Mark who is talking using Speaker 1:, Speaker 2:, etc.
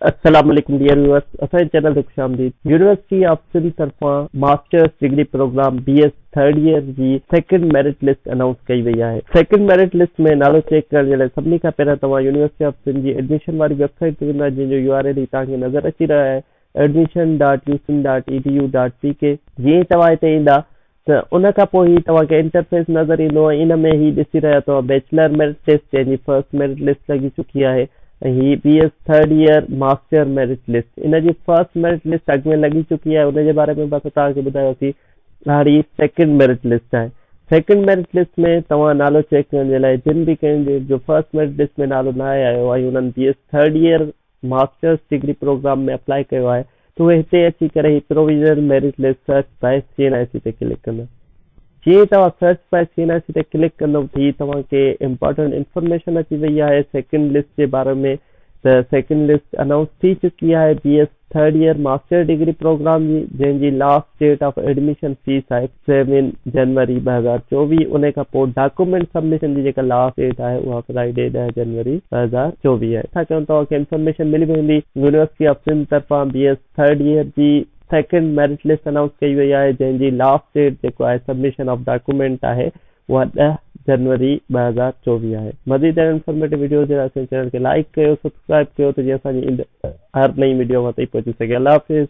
Speaker 1: السلام عليڪم dear viewers اسان جي چينل تي خوش آمديد يونيورسٽي آف سنڌ طرفان masters degree program B S third year جي سيڪنڊ ميرٽ لسٽ انائونس ڪئي وئي آهي سيڪنڊ ميرٽ لسٽ ۾ نالو چيڪ ڪرڻ جي لاء سڀني کان پهريان توهان يونيورسٽي آف سنڌ جي ايڊميشن واري ويب سائيٽ تي ويندا جنهن جو يو آر ايل هي توهان کي نظر اچي رهيو آهي Admission. U Sindh. Edu. Pk جيئن ئي توهان هتي ايندا ته ان کان پوء هي توهان کي انٽرفيس نظر ايندو ۽ ان ۾ هي ڏسي رهيا توهان بيچلر ميرٽ لسٽ جنهن جي فرسٽ ميرٽ لسٽ لڳي چڪي آهي ۽ هي B S third year master merit list ان جي فرسٽ ميرٽ لسٽ اڳ ۾ لڳي چڪي آهي ان جي باري ۾ به اسان توهان کي ٻڌايوسين هاڻي هي سيڪنڊ ميرٽ لسٽ آهي سيڪنڊ ميرٽ لسٽ ۾ توهان نالو چيڪ ڪرڻ جي لاء جن به ڪينڊيڊيٽ جو فرسٽ ميرٽ لسٽ ۾ نالو ناهي آيو ۽ انهن B S third year masters degree program ۾ apply ڪيو آهي ته اهي هتي اچي ڪري هي provisional merit list search by C N I C تي ڪلڪ ڪندا. جيئن ئي توهان search by C N I C تي ڪلڪ ڪندو ته هي توهان کي امپارٽنٽ انفارميشن اچي وئي آهي سيڪنڊ لسٽ جي باري ۾ ته سيڪنڊ لسٽ انائونس ٿي چڪي آهي B S third year master degree program جي جنهن جي last date of admission fees آهي سيون جنوري ٻه هزار چوويهه انهي کان پوء ڊاڪومينٽ سبمشن جي جيڪا لاسٽ ڊيٽ آهي اها فرائيڊي ڏهه جنوري ٻه هزار چوويهه آهي ڇا ڪيون توهان کي انفارميشن ملي ويندي يونيورسٽي آف سنڌ طرفان بي ايس ٿرڊ ييئر جي سيڪنڊ ميرٽ لسٽ انائونس ڪئي وئي آهي جنهن جي لاسٽ ڊيٽ جيڪو آهي سبمشن آف ڊاڪومينٽ آهي اها ڏهه جنوري ٻه هزار چوويهه آهي مزيد اهڙن انفارميٽو وڊيوز جي لاء اسان جي چينل کي لائيڪ ڪيو سبسڪرائيب ڪيو ته جيئن اسان جي ايندڙ هر نئين وڊيو اوهان تائين پهچي سگهي الله حافظ.